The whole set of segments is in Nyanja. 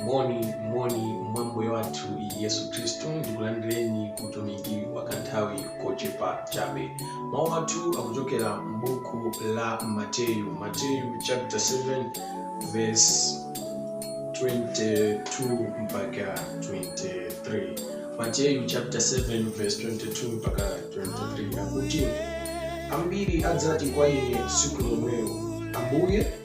moni moni mwa ambuye wathu yesu khristu ndikulandireni ku utumiki wa kanthawi kochepa chabe mawu athu akuchokera m'buku la mateyu mateyu chapter 7 verse 22 mpaka 23 mateyu chapter 7 verse 22 mpaka 23 akuti ambiri adzati kwa ine tsiku lomwelo ambuye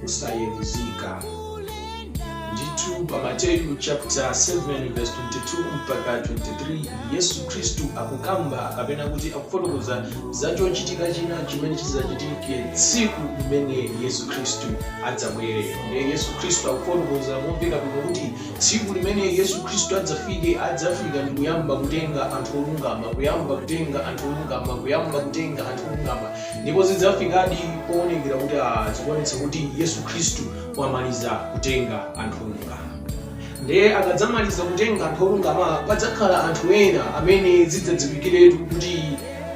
kusayeruzika. Ndithu pa Mateyu chapter 7 verse 22 mpaka 23 Yesu Khristu akukamba kapena kuti akufotokoza za chochitika china chimene chidzachitike tsiku limene Yesu Khristu adzabwere. Ndiye Yesu Khristu akufotokoza momveka bwino kuti tsiku limene Yesu Khristu adzafike adzafika ndi kuyamba kutenga anthu olungama, kuyamba kutenga anthu olungama, kuyamba kutenga anthu olungama. Ndipo zidzafikadi powonekera kuti a, zikuonetsa kuti Yesu Khristu wamaliza kutenga anthu olungama. Ndiye akadzamaliza kutenga anthu olungama, padzakhala anthu ena amene zidzadziwikiretu kuti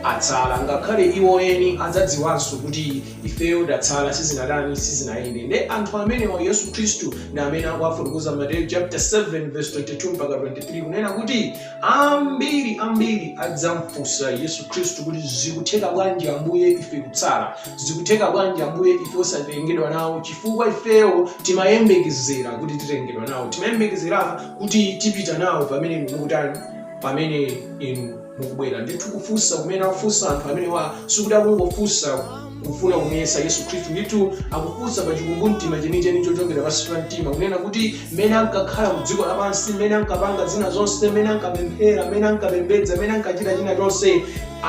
atsala, ngakhale iwo eni adzadziwanso kuti ifeyo tatsala, sizinatani, sizinayende. Ndiye anthu amenewa Yesu Khristu ndi amene akuwafotokoza Mateyu chapter 7 verse 22 mpaka 23 kunena kuti Ambiri ambiri adzamfunsa Yesu Khristu kuti zikutheka bwanji Ambuye ife kutsala, zikutheka bwanji Ambuye ife osatengedwa nawo, chifukwa ifeyo timayembekezera kuti titengedwa nawo, timayembekezera kuti tipita nawo pamene inu mukutani, pamene inu mukubwera. Ndithu kufunsa kumene akufunsa anthu amenewa sikuti akungofunsa kufuna kumuyesa yesu khristu ndithu akufunsa pa chikumbumtima chenicheni chochokera pansi pa mtima kunena kuti mmene ankakhala mu dziko lapansi mmene ankapanga zina zonse mmene ankapemphera mmene ankapembedza mmene ankachita china chonse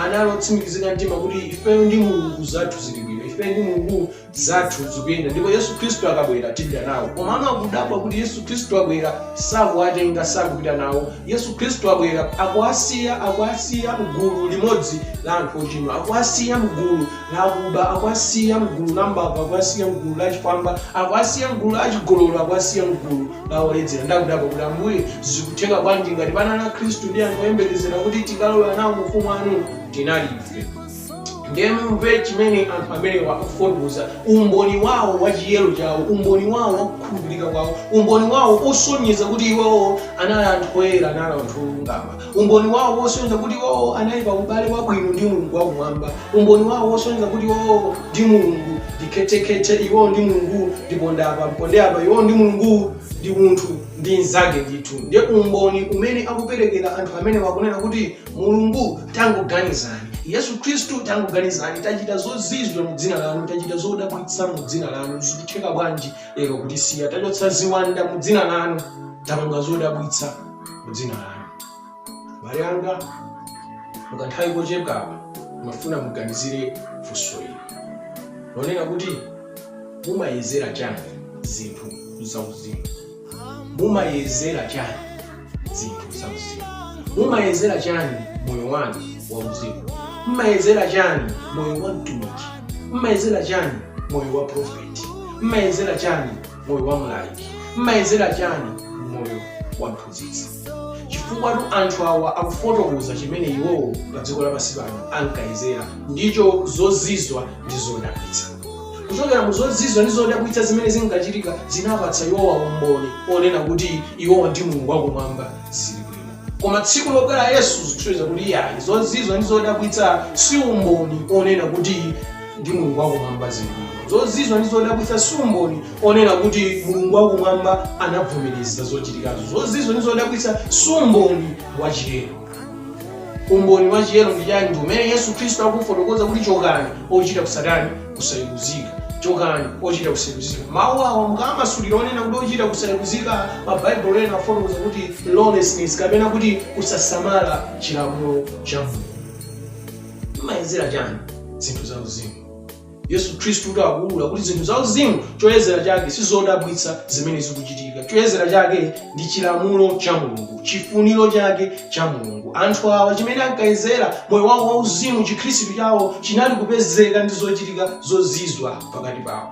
anali otsimikizika mtima kuti ifeyo ndi mulungu zathu zili bwino ifeyo ndi mulungu zathu zikuyenda ndipo yesu khristu akabwera tipita nawo komano akudabwa kuti yesu khristu wabwera sakuwatenga sakupita nawo Yesu Khristu wabwera, akuwasiya, akuwasiya mgulu limodzi la anthu ochimwa, akuwasiya mgulu la akuba, akuwasiya mgulu la mbava, akuwasiya mgulu la zifwamba, akuwasiya mgulu la chigololo, akuwasiya mgulu la oledzera. Nde akudabwa kuti Ambuye, zikutheka bwanji ngati panali Akhristu ndi anthu oyembekezera kuti tikalowa nawo mu ufumu wanu tinali ife? ndiye mumve chimene anthu amenewa akufotokoza umboni wawo wa chiyero chawo umboni wawo wa kukhulupirika kwawo umboni wawo osonyeza kuti iwowo anali anthu oyera anali anthu olungama umboni wawo osonyeza kuti iwowo anali pa ubale wabwino ndi mulungu wakumwamba umboni wawo osonyeza kuti iwowo ndi mulungu ndi khethekhethe iwowo ndi mulungu ndi pondapa mpondepo iwowo ndi mulungu ndi munthu ndi mnzake ndithu ndiye umboni umene akuperekera anthu amenewa akunena kuti Mulungu, tangoganizani. Yesu Khristu, tangoganizani. Tachita zozizwa mu dzina lanu, tachita zodabwitsa mu dzina lanu. Zikutheka bwanji lero kutisiya? Tachotsa ziwanda mu dzina lanu, tapanga zodabwitsa mu dzina lanu. Abale anga, mu kanthawi kochepaka ndimafuna muganizire funso ili lonena kuti mumayezera chani zinthu zauzimu mumayezera chani zinthu za uzimu mumayezera chani moyo wanu wauzimu mmayezera chani moyo wa mtumiki mmayezera chani moyo wa profeti mmayezera chani moyo wa mlaliki mmayezera chani moyo wa mphunzitsi chifukwatu anthu awa akufotokoza chimene iwowo pa dziko lapansi pano ankayezera ndicho zozizwa ndi zodabwitsa kuchokera mu zozizwa ndi zodabwitsa zimene zinkachitika zinapatsa iwowa umboni onena kuti iwowa ndi mulungu wakumwamba zili bwino koma tsiku lobwera yesu zikusonyeza kuti iyayi zozizwa ndi zodabwitsa si umboni onena kuti ndi mulungu wakumwamba zili bwino zozizwa ndi zodabwitsa si umboni onena kuti Mulungu wakumwamba anavomereza zochitikazo. Zozizwa ndi zodabwitsa si umboni wa chiyero. Umboni wa chiyero ndi chani? Ndi umene Yesu Khristu akufotokoza kuti chokani ochita kusatani kusayeruzika. Chokani ochita kusayeruzika. Mawu awa mukamasulira onena kuti ochita kusayeruzika ma Baibulo ena amafotokoza kuti lawlessness kapena kuti kusasamala chilamulo cha Mulungu. Mmayezera chani zinthu za uzimu? Yesu Khristutu akuulula kuti zinthu zauzimu choyezera chake si zodabwitsa zimene zikuchitika. Choyezera chake ndi chilamulo cha Mulungu, chifuniro chake cha Mulungu. Anthu awa chimene ankayezera moyo wawo wauzimu, chikhristu chawo chinali kupezeka ndi zochitika zozizwa pakati pawo.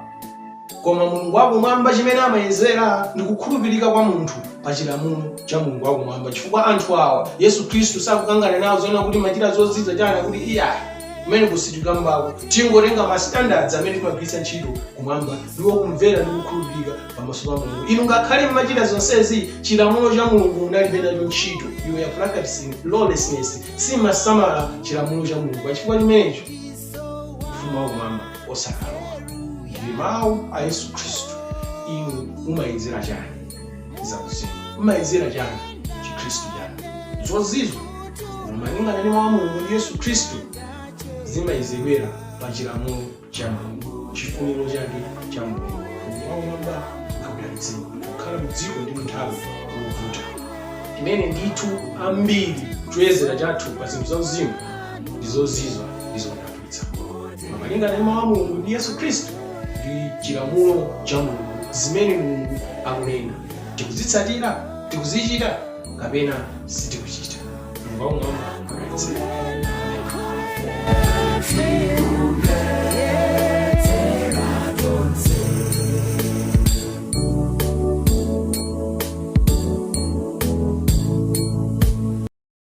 Koma Mulungu wa Kumwamba chimene amayezera ndi kukhulupirika kwa munthu pa chilamulo cha Mulungu wa Kumwamba, chifukwa anthu awa Yesu Khristu sakukangana nawo zonena kuti mmachita zozizwa chani akuti iyayi kumene sitikukanako tingotenga ma standards amene timagwiritsa ntchito kumwamba ndiwo kumvera ndi kukhulupirika pamaso pa Mulungu. Inu ngakhale mmachita zonsezi chilamulo cha Mulungu munalibe nacho ntchito, you were practicing lawlessness, simmasamala chilamulo cha Mulungu. Pachifukwa chimenecho ufumu wakumwamba wosakalowa ndi mawu a yesu khristu inu mumayezera chani zauzimu mumayezera chani chikhristu chanu zozizwa malingana ndi mawu a mulungu ndi yesu khristu zimayezedwera pa chilamulo cha mulungu chifuniro chake cha mulungu kumwamba akudalitseni kukhala mdziko ndi munthawi yovuta imene ndithu ambiri choyezera chathu pa zinthu zauzimu ndi zozizwitsa ndi zodabwitsa koma malingana ndi mawu a mulungu ndi yesu khristu ndi chilamulo cha mulungu zimene mulungu akunena tikuzitsatira tikuzichita kapena sitikuchita mulungu wakumwamba akudalitse